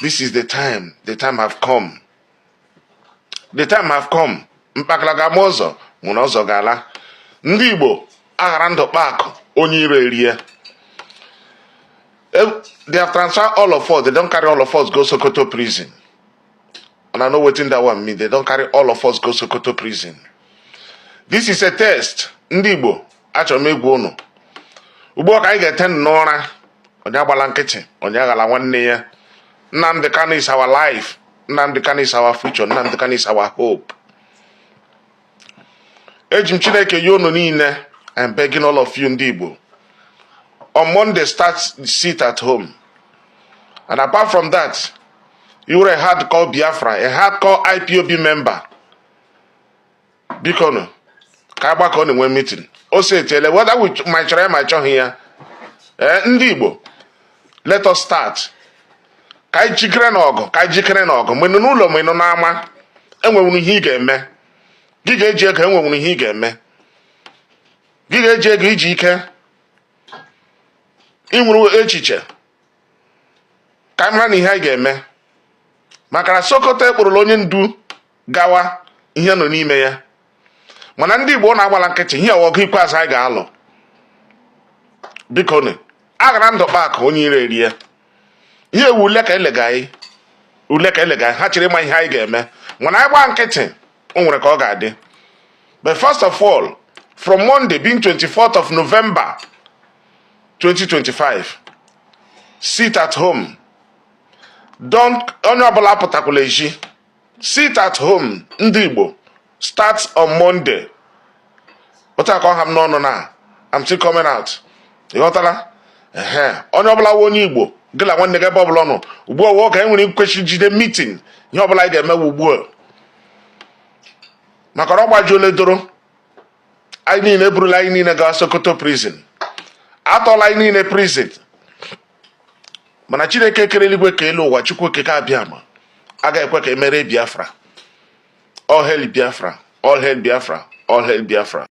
this is the time the time have come the time have come mkpakala ga-agba ọzọ mụ na ọzọ ga-ala ndị igbo aghara ndụ kpaa akụ onye iro erie e, they have transferred all of us they don carry all of us go sokoto prison and i know wetin that one mean they don carry all of us go sokoto prison this is a test ndị igbo achọrọ m ịgwa ụnụ ugbu a ka anyị ga-ete n'ụra onye agbala nkịtị onye aghala nwanne ya Nnamdi Kanu is our life Nnamdi Kanu is our future Nnamdi Kanu is our hope eji m Chineke yọ ụnụ niile I'm begging all of you ndị Igbo on Monday start sit at home and apart from that ị wụrụ hardcore Biafra hardcore IPOB member biko nụ ka a gbakọọ ọnụ nwee mitin o si etiele whether we ma chọrọ ya ma chọghị ya ee eh, ndị Igbo let us start ka anyị jikere na ọgụ ka anyị jikere na ọgụ ma ị nọ n'ụlọ ma ị nọ n'ama enwenwuru ihe ị ga-eme gị ga-eji ego enwenwuru ihe ị ga-eme gị ga-eji ego i ji ike i nweru echiche ka anyị mara nụ ihe anyị ga-eme maka na Sokoto ekpụrụla onye ndu gawa ihe nọ n'ime ya mana ndị Igbo na-agbala nkịtị ihe a wụ ọgụ ikpeazụ anyị ga-alụ biko nụ aghara ndụ kpaa akụ onye iro erie ihe a wụ ule ka elega anyị ule ka elega ha chọrọ ịma ihe anyị ga-eme mana anyị gbaa nkịtị o nwere ka ọ ga-adị but first of all from Monday being 24th of November 2025 sit at home don't onye ọbụla apụtakwala ezi sit at home ndị Igbo start on Monday otu a ka ọ ha m n'ọnụ now I'm still coming out ị ghọtala ee onye ọbụla wụ onye Igbo gị na nwanne gị ebe ọbụla ị nọ ugbu a wụọ ka anyị nwere ikwechi jide mitin ihe ọbụla anyị ga-eme ugbu a maka na ọ gbajuola doro anyị niile e burula anyị niile gawa Sokoto prison a tụọla anyị niile prison mana chineke kere eluigwe kee elu ụwa chukwu okike abịama agaghị ekwe ka e merie biafra all hail biafra all hail biafra all hail biafra